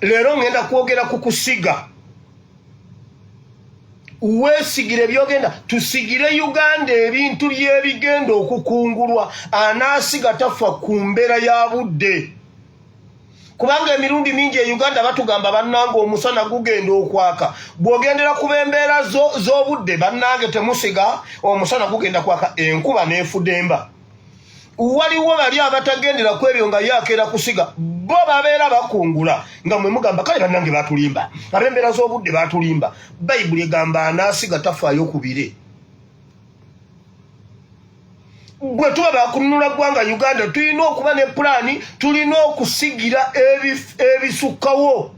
leero ngenda kwogera ku kusiga weesigire ebyogenda tusigire uganda ebintu byebigenda okukungulwa anaasiga tafa ku mbeera ya budde kubanga emirundi mingi e uganda batugamba bannange omusana gugenda okwaka bw'ogendera ku b'embeera z'obudde bannange temusiga omusana gugenda kwaka enkuba n'efudemba waliwo bali abatagendera ku ebyo nga yakeera kusiga bo babeera bakungula nga mwe mugamba kale bannange batulimba ab'embeera z'obudde batulimba bayibuli egamba anaasiga tafaayo ku bire gwe tuba bakununula ggwanga uganda tulina okuba ne pulaani tulina okusigira ebisukkawo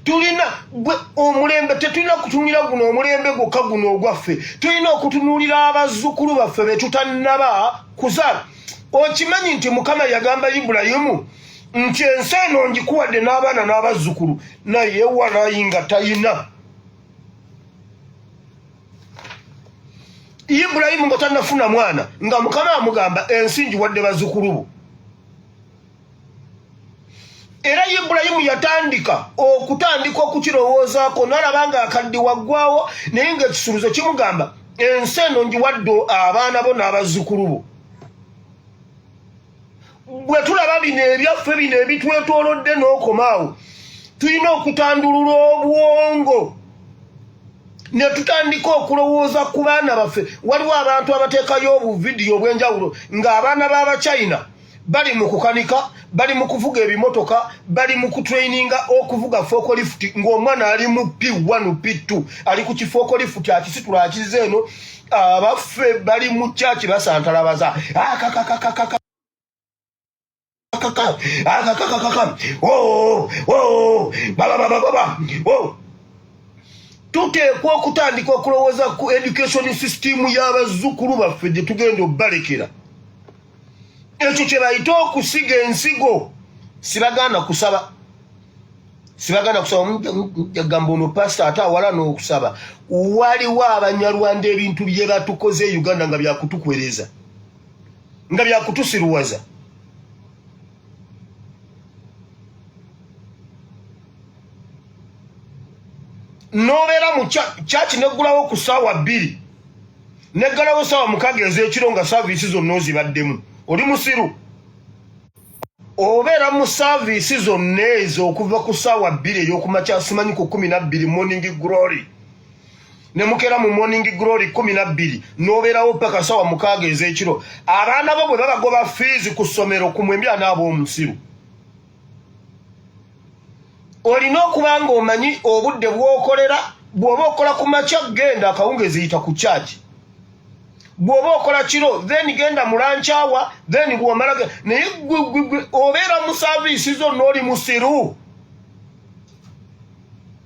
tulina gwe omulembe tetulina kutunulira guno omulembe gwokka guno ogwaffe tulina okutunuulira abazzukulu baffe betutanaba kuzaala okimanyi nti mukama yagamba ibulayimu nti ensi eno ngikuwadde n'abaana n'abazzukulu naye walayi nga talina ibulayimu nga tanafuna mwana nga mukama amugamba ensi ngiwadde bazzukulu bo era ibulayimu yatandika okutandika okukirowoozaako nalaba nga akaddi waggwawo naye ngaekisuluzo kimugamba ensi eno njiwadde abaana bo n'abazzukulu bo bwe tulaba bino ebyaffe bino ebitwetoolodde n'okomaawo tulina okutandulula obwongo ne tutandika okulowooza ku baana baffe waliwo abantu abateekayo obuvidiyo obw'enjawulo ng'abaana b'abachina bali mu kukanika bali mu kuvuga ebimotoka bali mu kutraininga okuvuga fokolifuti ng'omwana ali mu p1 p2 ali ku kifokolifuti akisitula akiza eno abaffe bali mu kyaki basantalabaza akakakakakaka tuteekwa okutandika okulowooza ku education system y'abazzukulu baffe gye tugenda okubalekera ekyo kye bayita okusiga ensigo sibaganda kusaba sibaganda kusaba mujagamba ono pasita ate awala n'okusaba waliwo abanyarwanda ebintu bye batukoze e uganda nga byakutukwereza nga byakutusiruwaza nobeera mu kyaki neggulawo ku saawa bbiri neggalawo saawa mukaga ezekiro nga saaviisi zonna ozibaddemu oli musiru obeera mu saaviisi zonna ezo okuva ku saawa bbiri eyokumakya simanyi ku kumi nabbiri morning glory nemukera mu morning glory kumi nabbiri nobeerawo paka saawa mukaaga ezekiro abaana bo bwe babagoba fiizi ku ssomero ku mwembi anaabaomusiru olina okuba ng'omanyi obudde bw'okolera bw'oba okola ku makya genda akawungeezi yita ku kyaki bw'oba okola kiro then genda mulankyawa then bwomala naye obeera mu saviisi zonna oli musiru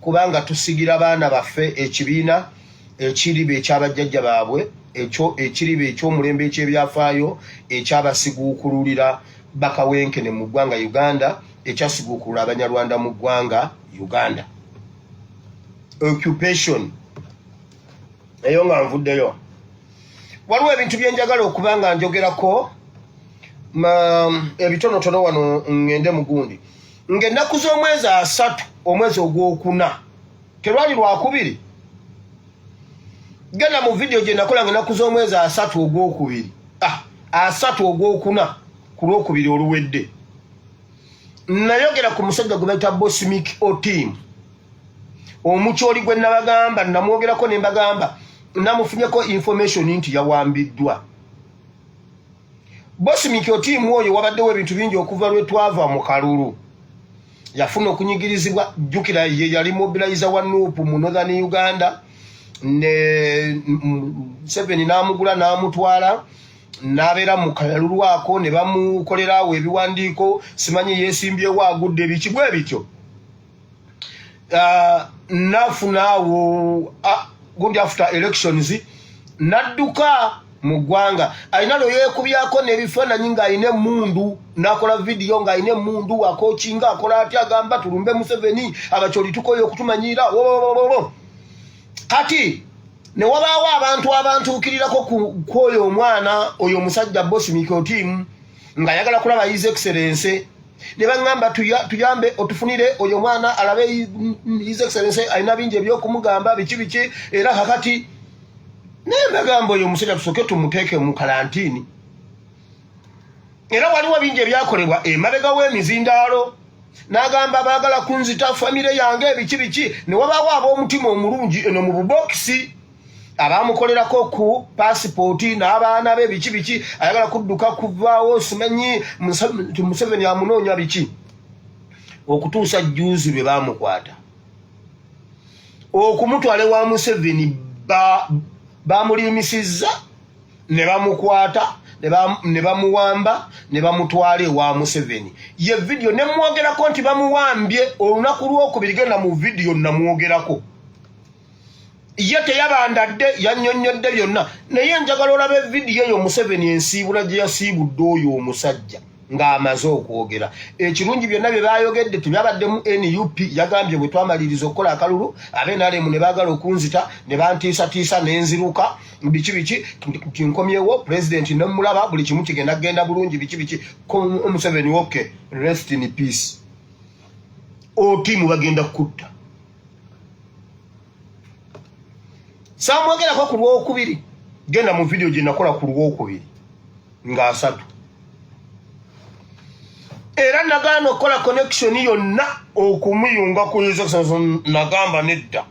kubanga tusigira baana baffe ekibiina ekiriba ekyabajjajja baabwe ekyo ekiriba ekyomulembe ekyebyafaayo ekyabasiguukululira bakawenkene mu ggwanga uganda ekyasiguukulula abanyarwanda mu ggwanga uganda occupation eyo nga nvuddeyo waliwo ebintu byenjagala okuba nga njogerako ebitonotono wano ngende mugundi ng'ennaku z'omwezi asatu omwezi ogwokuna terwali lwakubiri genda mu vidiyo gye nakola nga ennaku z'omwezi asatu ogwokubiri ah, asatu ogwokuna ku lwokubiri oluwedde nayogera ku musajja gwe bayita bosmik otim omukyoli gwe nabagamba namwogerako ne mbagamba namufunyeko information nti yawambiddwa Bosi Mikyo tiimu oyo wabaddewo ebintu bingi okuva lwe twava mu kalulu yafuna okunyigirizibwa jjukira ye yali mobilizer wa nuupu mu northern uganda ne museveni n'amugula n'amutwala n'abeera mu kalulu ako ne bamukolera awo ebiwandiiko simanyi yeesimbyewo agudde biki bwe bityo uh, nafunaawo uh, gundi after elections nadduka mu ggwanga alina lwe yeekubyako n'ebifaananyi ng'alina emmundu n'akola vidiyo ng'alina emmundu akokinga akola atya agamba tulumbe museveni abakyoli tukoye okutumanyiira wolololo kati ne wabaawo abantu abantuukirirako kwoyo omwana oyo omusajja bosi mikotiimu ng'ayagala kulaba his excellence ne baŋŋamba tuyambe otufunire oyo omwana alabe his excellency alina bingi ebyokumugamba biki biki era kakati naye mbagamba oyo omusajja tusooke tumuteeke mu kalantiini era waliwo bingi ebyakolebwa emabega w'emizindaalo n'agamba baagala kunzita famire yange ebiki biki ne wabaawo ab'omutima omulungi eno mu bubokisi abamukolerako ku pasipooti n'abaana be biki biki ayagala kudduka kuvaawo simanyi museveni amunoonya biki okutuusa juuzi lwe bamukwata okumutwala ewa museveni bamuliimisizza ba ne bamukwata ne bamuwamba ne bamutwala ewa museveni ye vidiyo ne mwogerako nti bamuwambye olunaku lwokubiri genda mu vidiyo namwogerako ye teyabandadde yanyonyodde byonna naye njagala olaba evidiyo eyo museveni ensiibula gye yasiibudde oyo omusajja ng'amaze okwogera ekirungi byonna bye baayogedde tebyabaddemu nup yagambye bwe twamaliriza okukola akalulu abenalemu ne baagala okunzita ne bantiisatiisa nenziruka biki biki nti nkomyewo pulezidenti nemulaba buli kimu kigenda kugenda bulungi biki biki omuseveni oke rest in peace otiimu bagenda kukutta samwogerako ku lwokubiri genda mu vidiyo gye nakola ku lwokubiri nga asatu era nagaana okukola connection yonna okumuyunga ku nagamba nedda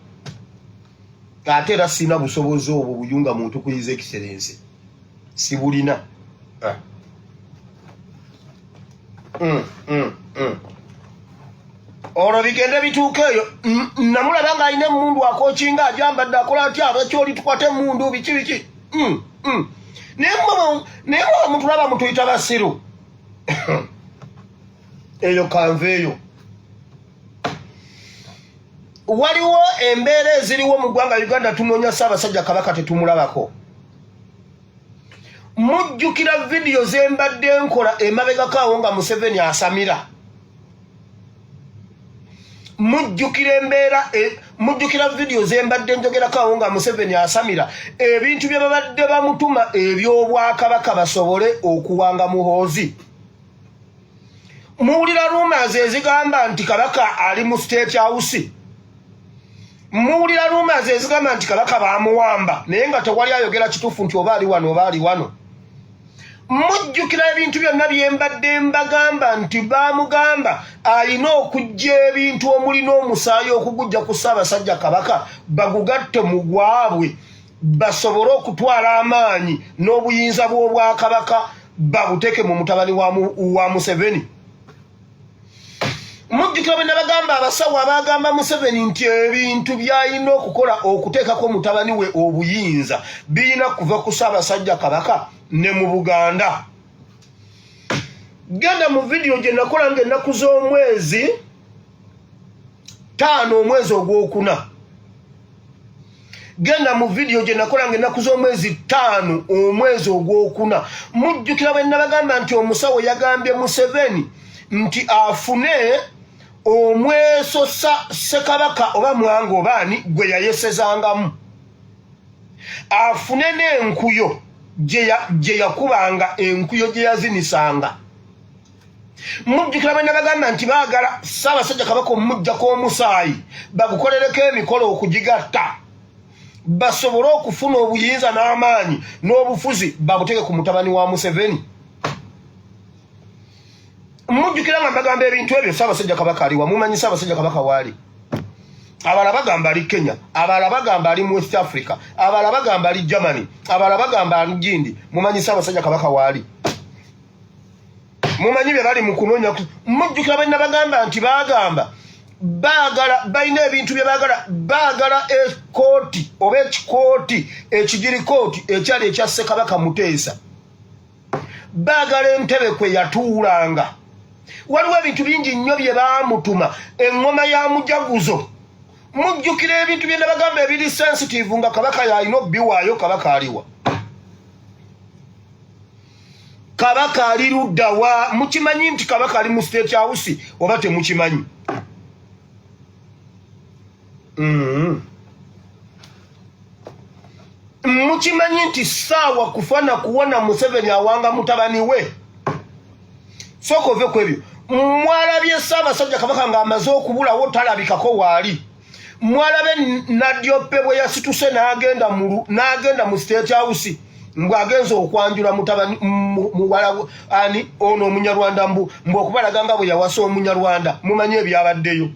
ate era sirina busobozi obwo buyunga muntu kuyiza ekiserense sibulina ah. mm, mm, mm. olwo bigende bituuka eyo namulaba nga alina emundu akokinga ajambadde akola atya abakyoli tukwata emundu biki biki mm, mm. naye mwa mutulaba mutuyita basiru eyo kanva eyo waliwo embeera eziriwo mu ggwanga uganda tunoonya ssaabasajja kabaka tetumulabako mujjukira vidiyo zembadde nkola emabegako awo nga museveni asamira mujjukira embeera e, mujjukira vidiyo zembadde njogerako awo nga museveni asamira ebintu bye babadde bamutuma eby'obwakabaka basobole okuwanga muhoozi muwulira rumors ezigamba nti kabaka ali mu state house muwulira rumors ezigamba nti kabaka bamuwamba naye nga tewali ayogera kituufu nti oba ali wano oba ali wano mujjukira ebintu byonna byembadde mbagamba nti bamugamba alina okujja ebintu omulina omusaayi okugujja ku ssaabasajja kabaka bagugatte mu gwabwe basobole okutwala amaanyi n'obuyinza bw'obwakabaka babuteke mu mutabani wa museveni mujjukira bwe nabagamba abasawo abagamba museveni nti ebintu byalina okukola okuteekako mutabani we obuyinza birina kuva ku saabasajja kabaka ne mu buganda genda mu vidiyo gye nakola nga ennaku z'omwezi taano omwezi ogwokuna genda mu vidiyo gye nakola nga ennaku z'omwezi ttaano omwezi ogwokuna mujjukira bwe nabagamba nti omusawo yagambye museveni nti afune omweso sa ssekabaka oba mwanga obaani gwe yayesezangamu afune n'enkuyo gye yakubanga enkuyo gye yazinisanga mujjukira bwe nabagamba nti baagala ssaabasajja kabaka omumujjako omusaayi bagukolereko emikolo okugigatta basobole okufuna obuyinza n'amaanyi n'obufuzi babuteke ku mutabani wa museveni mujjukira nga mbagamba ebintu ebyo ssaabasajja kabaka aliwa mumanyi ssaabasajja kabaka waali abala bagamba ali kenya abala bagamba ali mu west africa abala bagamba ali germany abala bagamba ali gindi mumanyi ssaabasajja kabaka waali mumanyi bye bali mu kunoonya mujjukira bwe nabagamba nti baagamba baagala balina ebintu bye baagala baagala ekooti oba ekikooti ekigiri kooti ekyali ekya ssekabaka muteesa baagala entebe kwe yatuulanga waliwo ebintu bingi nnyo bye baamutuma eŋŋoma ya mujaguzo mujjukira ebintu bye nabagamba ebiri sensitive nga kabaka yalina obiwaayo kabaka aliwa kabaka ali ludda wa mukimanyi nti kabaka ali mu state house oba temukimanyi mm-hmm. mukimanyi nti saawa kufa na kuwona museveni awanga mutabani we soka ove kwebyo mwalabye saabasajja kabaka nga amaze okubulawo talabikako waali mwalabe nadyope bwe yasituse n'agenda mu n'agenda mu state house mbu agenze okwanjula mutabani muwala ani ono omunyarwanda mbu mbu okubalaga nga bwe yawasa omunyarwanda mumanyi ebyabaddeyo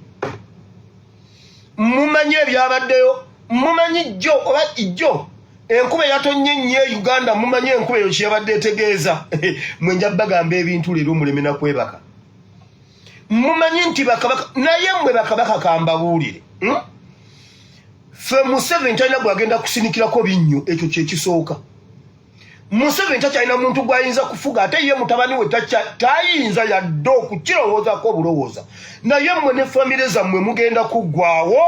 mumanyi ebyabaddeyo mumanyi jjo oba ijjo enkuba eyatonnye nnyo e uganda mumanyi enkuba eyo kyeyabadde etegeeza mwe nja bagamba ebintu leero muleme nakwebaka mumanyi nti bakabaka naye mwe bakabaka kambabuulire hmm? fe museveni talina gwagenda kusinikirako binnyo ekyo kyekisooka museveni takyalina muntu gwayinza kufuga ate ye mutabani we tayinza yadde okukirowoozako obulowooza naye mwe ne famire zammwe mugenda kuggwawo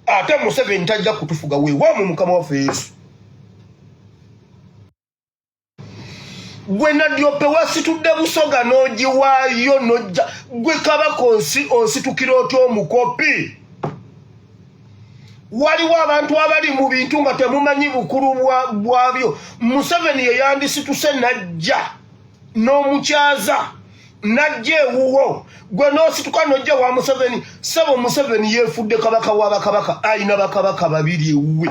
ate museveni tajja kutufuga wewamu mukama waffe yesu gwe nadyope wasitudde busoga n'ogiwaayo nojja gwe kabaka onsi onsitukira otya omukopi waliwo abantu abali mu bintu nga temumanyi bukulu bwabyo museveni yeyandisituse najja n'omukyaza najja ewuwo gwe n'osituka nojja wa museveni sebo museveni yefudde kabaka wa bakabaka ayina bakabaka babiri ewuwe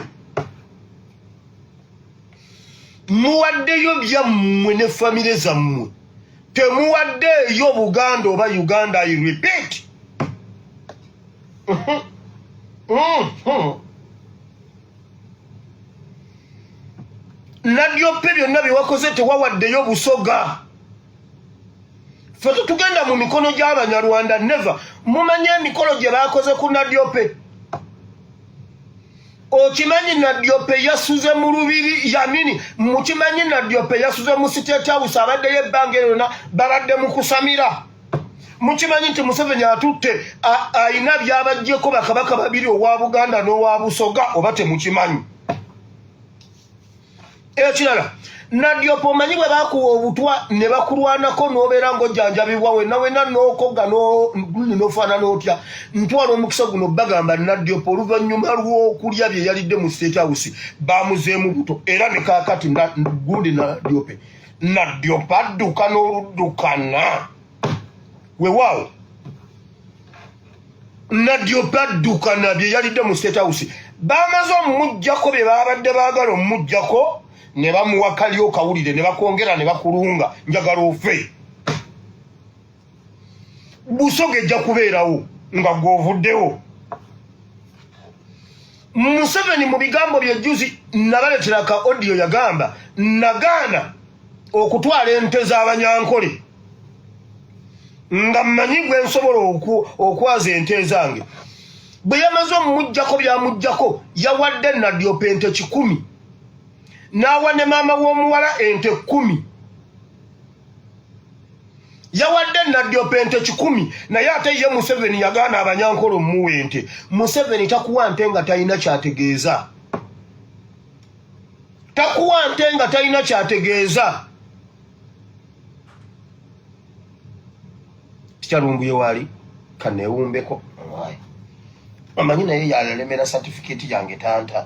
muwaddeyo byammwe ne famire zammwe temuwaddeeyo buganda oba uganda i repeat mm-hmm. Mm-hmm. nadyoppe byonna byewakoze tewawaddeyo busoga fe tetugenda mu mikono gy'abanyarwanda neva mumanye emikolo gye baakoze ku nadyope okimanyi nadyope yasuze mu lubiri yanini mukimanyi nadyope yasuze mu state house abaddeyo ebbanga erona babadde mu kusamira mukimanyi nti museveni atutte ayina byabajjeko bakabaka babiri owa buganda n'owa busoga oba temukimanyi ekirala nadyopa omanyi bwe bakuwa obutwa ne bakulwanako n'obeera ng'ojjanjabibwa wenna wenna n'okogga n'ofaanana otya ntwala omukisa guno bagamba nadyopa oluvannyuma lw'okulya bye yalidde mu state house bamuzeemu buto era ne kaakati gundi nadyope nadyopa adduka n'oluddukana wewaawo nadyo badduka nabye yalidde mu state house bamaze omumujjako bye babadde baagala omumujjako ne bamuwa kali okawulire ne bakwongera ne bakulunga njagala ofe busoga ejja kubeerawo nga gwovuddewo Museveni mu bigambo bye jjuzi nabaletera ka odiyo yagamba nagaana okutwala ente z'abanyankole nga mmanyi gwe nsobola okwaza ente ezange bwe yamaze omumugjako byamugjako yawadde nadyopa ente kikumi n'awa ne maama w'omuwala ente kkumi yawadde nadyopa ente kikumi naye ate ye museveni yagaana abanyankolo omuwa ente museveni takuwa nte nga talina kyategeeza takuwa nte nga talina kyategeeza tikyalumbuye waali kanewumbeko omanyi naye yalelemera satifiketi yange tanta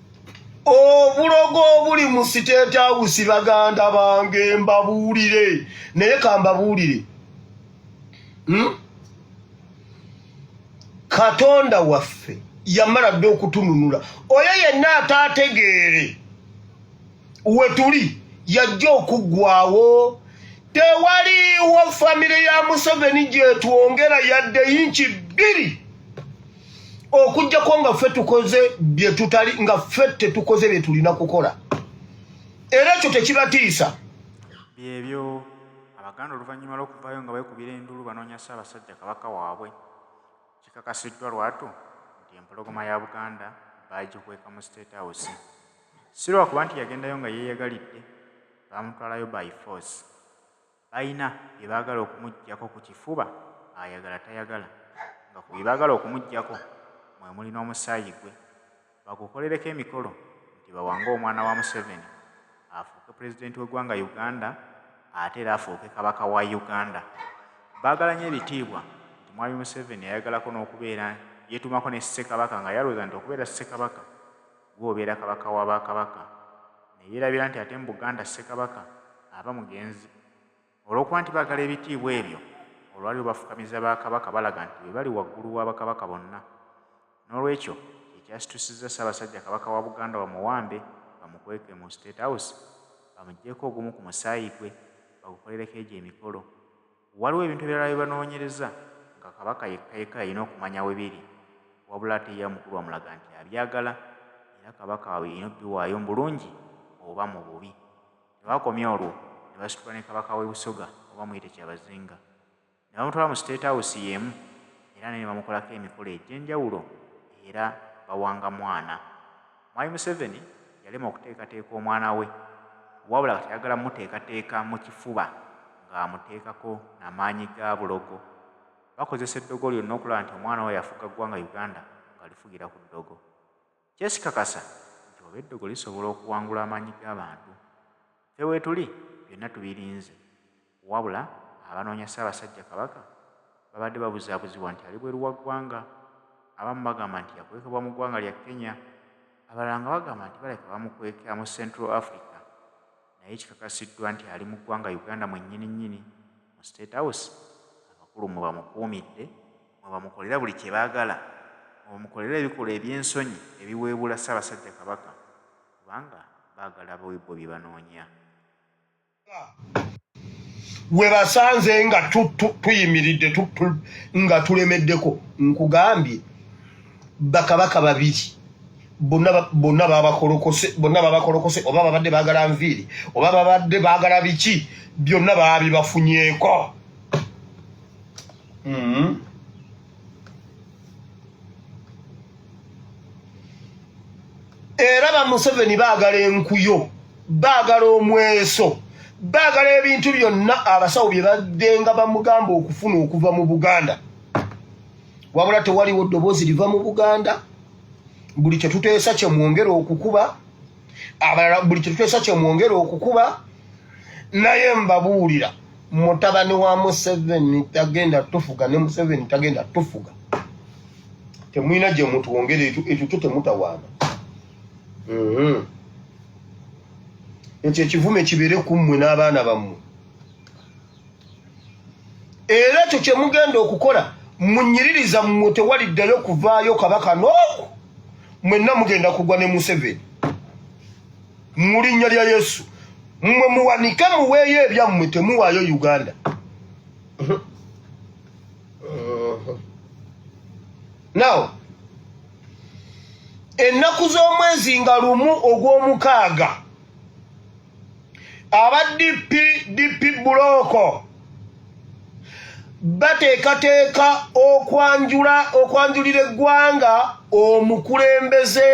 obulogo obuli mu siteeti awusi baganda bange mbabuulire naye kambabuulire hmm? katonda waffe yamala dde okutununula oyo yenna ataategeere wetuli yajja okuggwawo tewaliwo famire ya museveni gyetwongera yadde yinki bbiri okujjako nga ffe tukoze byetutali nga ffe tetukoze byetulina kukola era ekyo tekibatiisa byebyo abaganda oluvannyuma lw'okuvaayo nga beekubira endulu banoonya ssaabasajja kabaka waabwe kikakasiddwa lwatu nti empologoma ya buganda baagikweka mu state house si lwakuba nti yagendayo nga yeeyagalidde baamutwalayo by force Balina bye baagala okumuggyako ku kifuba, ayagala tayagala, nga ku bye baagala okumuggyako mwe muli n'omusaayi gwe, bagukolereko emikolo nti bawange omwana wa Museveni afuuke Pulezidenti w'eggwanga Uganda ate era afuuke Kabaka wa Uganda. Baagala nnyo ebitiibwa nti Mwami Museveni ayagalako n'okubeera yeetuumako ne Ssekabaka nga yalwooza nti okubeera Ssekabaka, Gwe obeera Kabaka wa ba Kabaka. Neyerabira nti ate mu Buganda Ssekabaka aba mugenzi. Olwokuba nti bagala ebitiibwa ebyo, olwali lubafukamiza ba Kabaka balaga nti bebali waggulu wa Bakabaka bonna. Nolwekyo kyekyasitusizza Ssabasajja Kabaka wa Buganda bamuwambe bamukweke mu State House, bamujjeko ogumu ku musaayi gwe, bagukolereko egyo emikolo. Waliwo ebintu ebirala bye banoonyereza nga Kabaka yekka yekka y'alina okumanya we biri, wabula ate ye omukulu amulaga nti abyagala era Kabaka y'alina okubiwaayo mu bulungi oba mu bubi. Tebaakomye olwo ne basitula ne Kabaka w'e Busoga oba muyite Kyabazinga ne bamutwala mu State House y'emu era naye ne bamukolako emikolo egy'enjawulo era bawanga mwana. Mwami Museveni yalema okuteekateeka omwana we wabula kati ayagala muteekateeka mu kifuba ng'amuteekako na maanyi ga bulogo. Bakozesa eddogo lyonna okulaba nti omwana oyo afuga ggwanga Uganda ng'alifugira ku ddogo. Kyesikakasa nti oba eddogo lisobola okuwangula amaanyi g'abantu. Ffe weetuli byonna tubirinze. Wabula abanoonya Ssaabasajja Kabaka babadde babuzaabuzibwa nti ali bweru wa ggwanga, abamu bagamba nti yakwekebwa mu ggwanga lya Kenya, abalala nga bagamba nti balabika bamukwekea mu Central Africa naye kikakasiddwa nti ali mu ggwanga Uganda mwennyini nnyini mu State House abakulu mwe bamukuumidde, mwe bamukolera buli kye baagala, mwe bamukolera ebikolwa eby'ensonyi ebiweebuula Ssaabasajja Kabaka kubanga baagala bo bye banoonya. gwe basanze nga tuyimiridde nga tulemeddeko nkugambye bakabaka babiri bonna babakolokose bonna babakolokose oba babadde bagala nviiri oba babadde bagala biki byonna baabibafunyeeko mm -hmm. era ba Museveni baagala enkuyo baagala omweso baagala ebintu byonna abasawo bye baddenga bamugamba okufuna okuva mu buganda wabula tewaliwo ddoboozi liva mu buganda buli kye tuteesa kye mwongera okukuba abalala buli kintu kyonsa kyemwongera okukuba naye mbabuulira mutabani wa museveni tagenda tufuga ne museveni tagenda tufuga temulina gye mutwongera ekyo kyo temutawaana mhm. ekyo ekivume kibeere ku mmwe n'abaana bammwe era ekyo kye mugenda okukola munyiririza mmwe tewaliddayo kuvaayo kabaka n'oku mwenna mugenda kugwa ne museveni mu linnya lya yesu mmwe muwanike muweeyo ebyammwe temuwaayo uganda now ennaku z'omwezi nga lumu ogw'omukaaga aba DP DP bulooko bateekateeka okwanjula okwanjulira eggwanga omukulembeze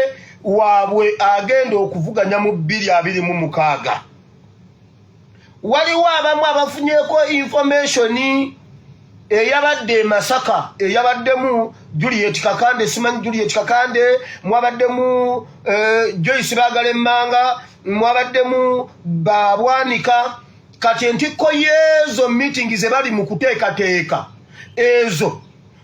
waabwe agenda okuvuganya mu bbiri abiri mu mukaaga waliwo abamu abafunyeko informationi eyabadde e Masaka eyabaddemu Juliet Kakande simanyi Juliet Kakande mwabaddemu eh, Joyce Bagala Emmanga mwabaddemu Babwanika kati entikko yeezo meeting ze bali mu kuteekateeka ezo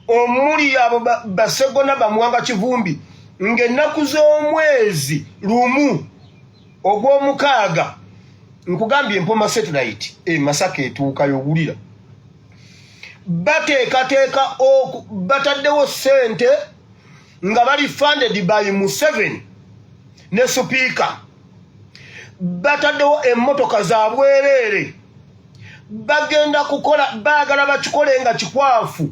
omuli abo Basegona Bamwanga Kivumbi ng'ennaku z'omwezi lumu ogw'omukaaga nkugambye empoma satellite e masaka etuukayo owulira bateekateeka bataddewo sente nga bali funded by museven ne supiika bataddewo emmotoka za bwereere bagenda kukola baagala bakikole nga kikwafu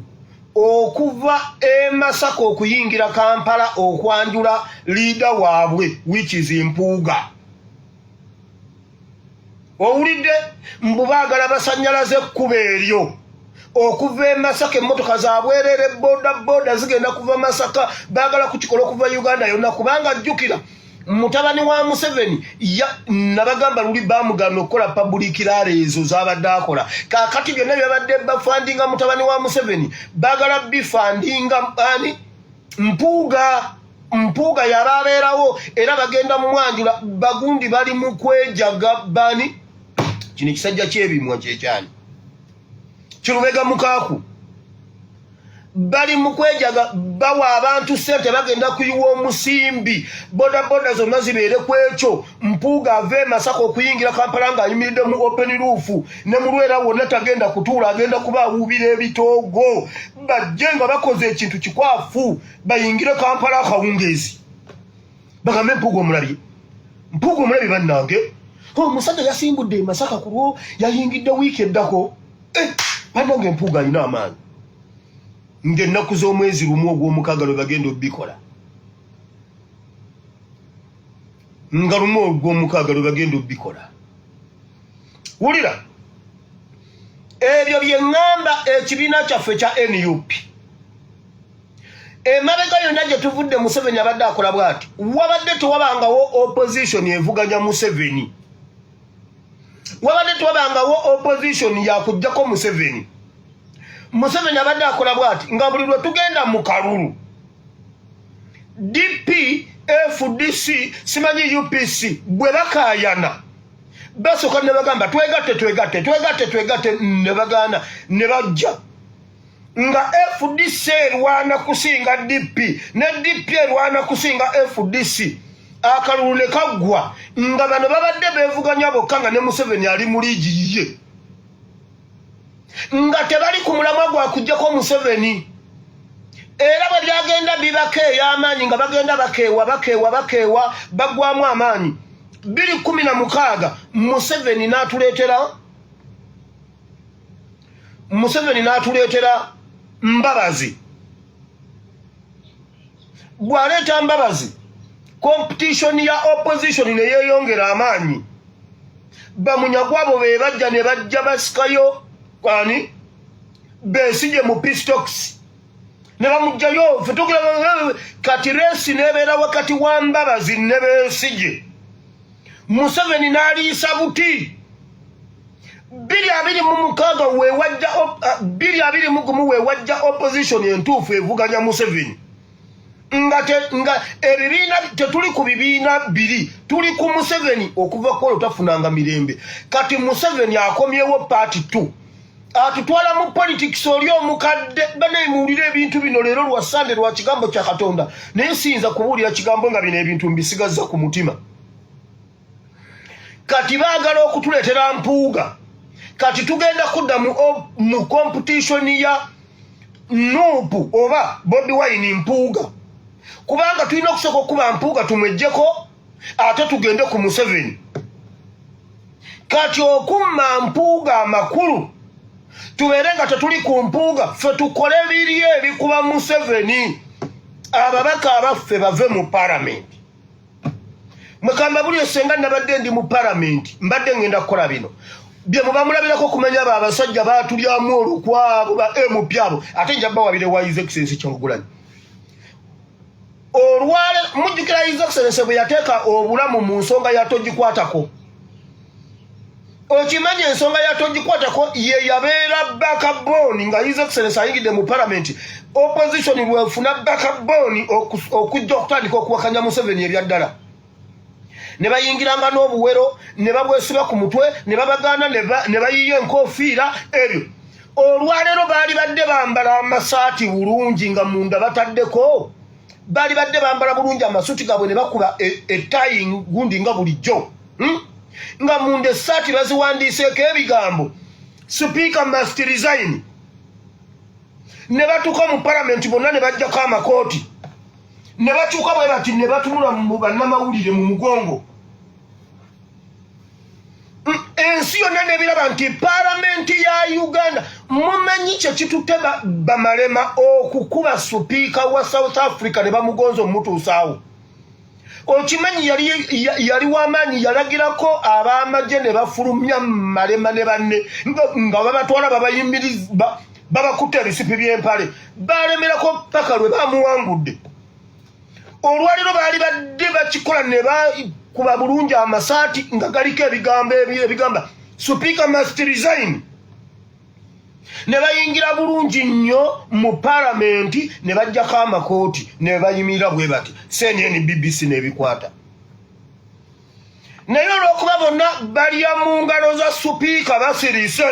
okuva e masaka okuyingira kampala okwanjula liida waabwe wichis mpuuga owulidde mbu baagala basanyalaze ekkuba eryo okuva e masaka emmotoka zabwerere boda boda zigenda kuva masaka baagala kukikola okuva uganda yonna kubanga jjukira mutabani wa museveni nabagamba luli bamugana okukola pabulik laala ezo zabadde akola kakati byonna byabadde bafandinga mutabani wa museveni bagala bifandinga ani mpuuga mpuuga yaba abeerawo era bagenda mumwanjula bagundi bali mukwejaga bani kino ekisajja kyebimwa kyekyani kirubega mukaaku bali mu kwejaga bawa abantu sente bagenda kuyiwa omusimbi bodaboda zonna zibeere ku ekyo mpuuga ava emasaka okuyingira kampala ng'ayimiridde mu open roof ne mulwera wonna tagenda kutuula agenda kuba awuubira ebitoogo bajje nga bakoze ekintu kikwafu bayingire kampala akawungeezi bagambe mpuuga omulabye mpuuga omulabye bannange omusajja yasimbudde emasaka ku lwo yayingidde wiiki eddako eh, bannange mpuuga alina amaanyi ng'ennaku z'omwezi lumu ogw'omukaaga lwe bagenda obikola nga lumu ogw'omukaaga lwe bagenda obikola wulira ebyo bye ŋŋamba ekibiina kyaffe kya nup emabega yonna gye tuvudde museveni abadde akola bwati wabadde tewabangawo opposition evuganya museveni wabadde tewabangawo opposition yakujjako museveni museveni abadde akola bwati nga buli lwe tugenda mu kalulu dp fdc simanyi upc bwe bakayana basooka ne bagamba twegatte twegatte twegatte twegatte ne bagaana ne bajja nga fdc erwana kusinga dp ne dp erwana kusinga fdc akalulu ne kaggwa nga bano babadde beevuganya bokka nga ne museveni ali mu liigi yiye nga tebali ku mulamwa gwa kujjako museveni era bwe byagenda bibako ey'amaanyi nga bagenda bakeewa bakeewa bakeewa baggwamu amaanyi biri kumi na mukaaga museveni n'atuleetera museveni n'atuleetera mbabazi bw'aleeta mbabazi competition ya opposition ne yeeyongera amaanyi bamunyagwa abo be bajja ne bajja basikayo ani beesije mu pistokisi ne bamugjayo fetukira kati reesi nebeera wakati wa mbabazi ne beesije museveni n'aliisa buti biri abiri mu mukaaga wewajja eh, biri abiri mu gumu wewajja opposition entuufu evuganya museveni nga nga ebibiina tetuli ku bibiina biri tuli ku museveni okuva kwolwo tafunanga mirembe kati museveni akomyewo paati two atutwala mu politics oli omukadde banaye muwulire ebintu bino leero lwa sande lwa kigambo kya katonda naye siyinza kubuulira kigambo nga bino ebintu mbisigazza ku mutima kati baagala okutuleetera mpuuga kati tugenda kudda mu competition ya nuupu oba bobi wine mpuuga kubanga tulina okusooka okuba mpuuga tumwejjeko ate tugende ku museveni kati okumma mpuuga amakulu tubeere nga tetuli ku mpuuga ffe tukole biri ebikuba museveni ababaka abaffe bave mu paramenti mukamba buli esenga nabadde ndi mu paramenti mbadde ngenda kukola bino bye mubamulabirako okumanya abo abasajja batulyamu olukwabo ba mp abo ate nja bawabire wa his excellence kyagulanyi olwale mujjukira his excellence bwe yateeka obulamu mu nsonga ya togikwatako okimanyi ensonga ya togikwatako ye yabeera bakaboni nga his excellence ayingidde mu palamenti opposition lwefuna bakaboni okujja okutandika okuwakanya museveni ebyaddala ne bayingiranga n'obuwero ne babwesiba ku mutwe ne babagaana ne bayiiya enkoofiira ebyo olwaleero baali badde bambala amasaati bulungi nga munda bataddeko baali badde bambala bulungi amasuti gaabwe ne bakuba ettayi e gundi nga bulijjo hmm? nga munda essaati baziwandiiseeko ebigambo sipiika must resign ne batuuka mu palamenti bonna ne bajjako amakooti ne bakyuka bwe bati ne batunula mu bannamawulire mu mugongo ensi yonna nebiraba nti palamenti ya uganda mumanyi kyekitutte bamalema okukuba supiika wa south africa ne bamugonza omutuusaawo okimanyi yali, yali wamaanyi yalagirako ab'amagye ne bafulumya malema ne banne nga babatwala babayimiriza babakutte ebisipi by'empale baalemerako ppaka lwe bamuwangudde olwaliro baali badde bakikola ne bakuba bulungi amasaati nga galiko ebigambo ebigamba supiika must resign ne bayingira bulungi nnyo mu palamenti ne bajjako amakooti ne bayimirira bwe bati cnn bbc n'ebikwata naye olwokuba bonna balya mu ngalo za supiika basirise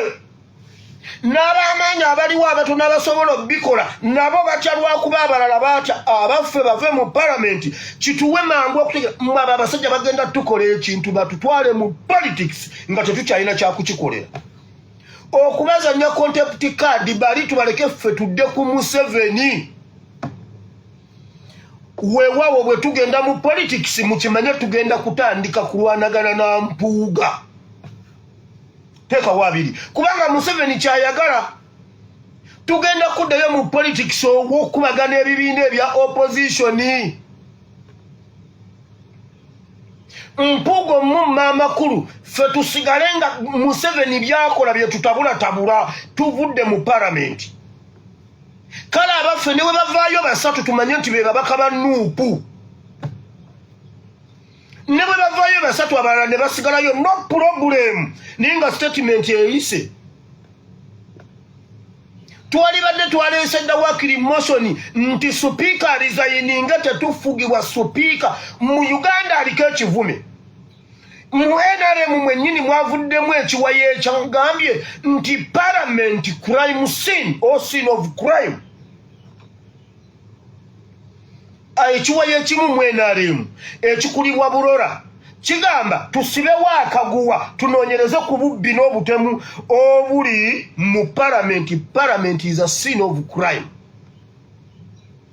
n'abamaanyi abaliwo abatono abasobola okubikola nabo batya lwakuba abalala baata abaffe bave mu palamenti kituwe mangu okutegera mwe abo abasajja bagenda tukola ekintu batutwale mu politics nga tetukyalina kyakukikolera okubazanya contept card bali tubaleke ffe tudde ku museveni wewawo bwe tugenda mu politics mukimanye tugenda kutandika kulwanagana na mpuuga teekawo abiri kubanga museveni kyayagala tugenda kuddayo mu politics owokubagana ebibiina ebya opozitioni mpuuga omumma amakulu fe tusigale nga museveni byakola byetutabulatabula tuvudde mu paramenti kale abaffe ne bwe bavaayo basatu tumanye nti be babaka ba nuupu ne bwe bavaayo basatu abalala ne basigalayo no pulobulemu naye nga sitatimenti eyise twalibadde twaleese dda wakiri mosoni nti supiika alizayininga tetufugibwa supiika mu uganda aliko ekivume mu nrm mwennyini mwavuddemu ekiwayo ekyagambye nti palamenti crime sin o sin of crime ah, ekiwayo ekimu mu nrm ekikulibwa burora kigamba tusibewo akaguwa tunoonyereze ku bubbi n'obutemu obuli mu palamenti palamenti is a sin of crime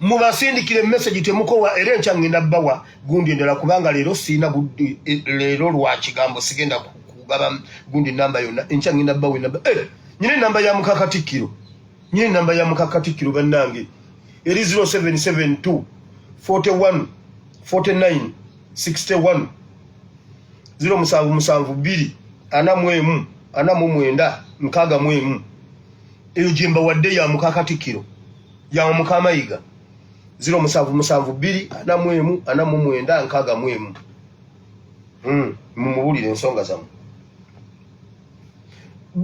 mubasindikire message temukowa era enkya ngenda bawa gundi endala kubanga leero sirina gundi eh, leero lwa kigambo sigenda kugaba gundi namba yonna enkya ngenda bawa enamba eh, nyine namba ya mukakatikkiro nyine namba ya mukakatikkiro bannange eri 0772 41 49 61 ziro musanvu musanvu bbiri ana mu emu ana mu mwenda nkaaga mu emu eyo gye mbawadde ya muka Katikkiro ya muka Mayiga ziro musanvu musanvu bbiri ana mu emu ana mu mwenda nkaaga mu emu hmm, mumubuulire ensonga zammwe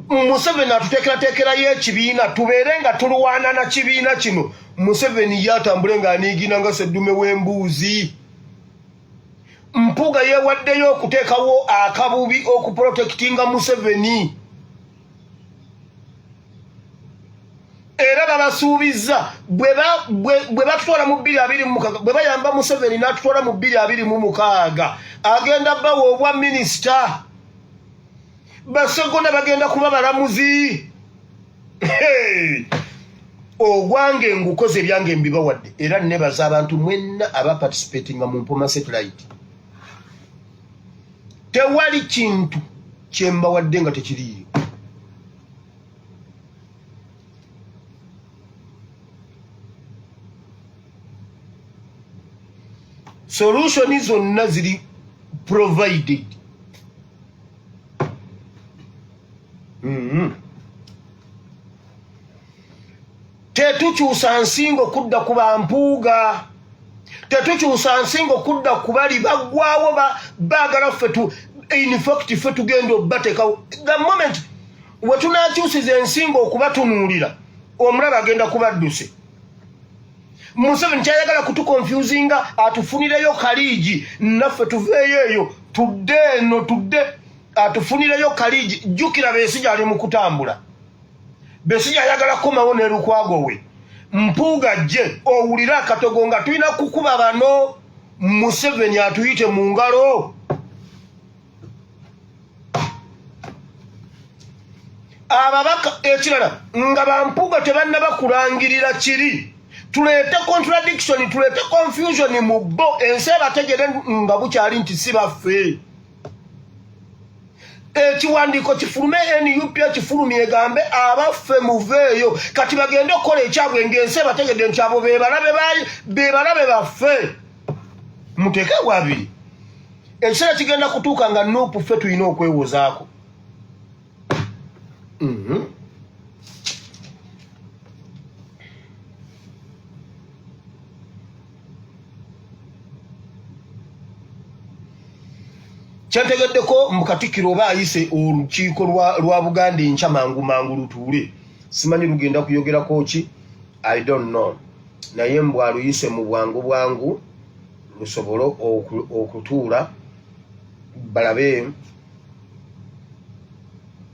Museveni atuteekerateekerayo ekibiina tubeere nga tulwana na kibiina kino Museveni ye atambule ng'aniigina nga seddume w'embuuzi Mpuga yeewaddeyo okuteekawo akabubi okuprotekitinga Museveni era babasuubizza bwe batutwala mu bbiri abiri mumukaaga bwe bayamba museveni n'atutwala mu bbiri abiri mu mukaaga agenda bawa obwa minisita basegona bagenda kuba balamuzi ogwange ngukoze ebyange mbibawadde era nebaza abantu mwenna abaparticipatinga mu mpoma satellite tewali kintu kyembawadde nga tekiriiyo solution zonna ziri provided mm -hmm. tetukyusa nsingo kudda ku bampuuga tetukyusa nsingo kudda ku bali baggwawo baagala ffe infact ffe tugenda obatekawo the moment wetunakyusiza ensingo okubatunuulira omulaba agenda kubadduse museveni kyayagala kutukonfusinga atufunireyo kaliigi naffe tuveeyo eyo tudde eno tudde atufunireyo kaliigi jjukira beesi gyali mu kutambula Besigye ayagala kukomawo ne Lukwago we Mpuuga jje owulire akatogo nga tulina kukuba bano Museveni atuyite mu ngalo ababaka ekirala nga bampuuga tebanna bakulangirira kiri tuleete contradiction tuleete confusion mu bo ensi ebategere nga bukyali nti si baffe ekiwandiiko kifulume nup ekifulumi egambe abaffe muveeyo kati bagende okukola ekyabwe ngaensi ebategedde nti abo bebalabe baffe muteeke wabiri ekiseera kigenda kutuuka nga nup ffe tulina okwewozaako mhm. kyategeddeko mu katikkiro oba ayise olukiiko lwa buganda enkya mangu mangu lutuule simanyi lugenda kuyogerako ki i don't know naye mbu aluyise mu bwangu bwangu lusobole okutuula balabe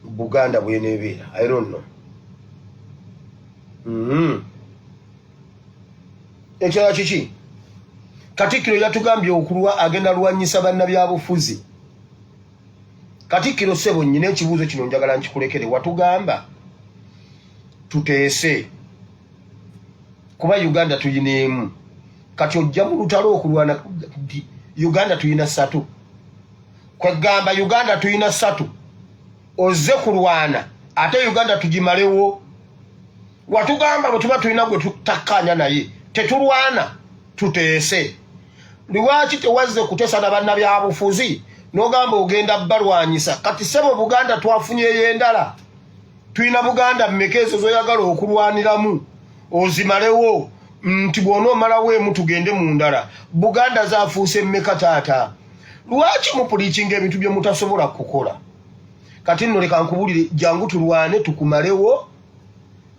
buganda bwenebeera i don't know mm -hmm. ekirala kiki katikkiro yatugambye okulwa agenda lwanyisa bannabyabufuzi katikkiro sebo nyina ekibuuzo kino njagala nkikulekere watugamba tuteese kuba uganda tuyina emu kati ojja mu lutalo okulwana uganda tuyina satu kwegamba uganda tuyina satu ozze kulwana ate uganda tugimalewo watugamba bwetuba tulina gwe tutakkaanya naye tetulwana tuteese lwaki tewazze kuteesa na bannabyabufuzi nogamba ogenda balwanyisa kati sebo buganda twafunyeyo endala tulina buganda mmeka ezo zoyagala okulwaniramu ozimalewo nti bwona omalawo emu tugende mu ndala buganda zafuuse mmeka taata lwaki mupulikinga ebintu bye mutasobola kukola kati nno leka nkubulire jangu tulwane tukumalewo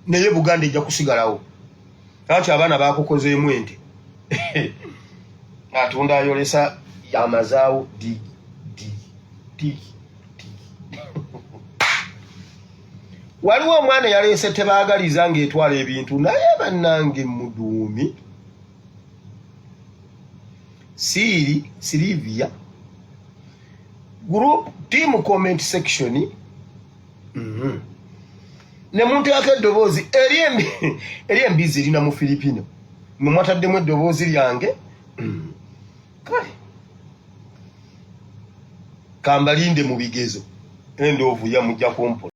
naye buganda ejja kusigalawo lwaki abaana bakukozeemu ente atunda ayolesa yamazaawo digi digi digi waliwo omwana yaleese tebaagaliza ng'etwala ebintu naye bannange muduumi siiri sirivia group team comment section mm -hmm. ne muntu yako eddoboozi eri embizi erina mu filipino mwe mwataddemu eddoboozi lyange mm. kale kambalinde mu bigezo endoovu yamujja kumpola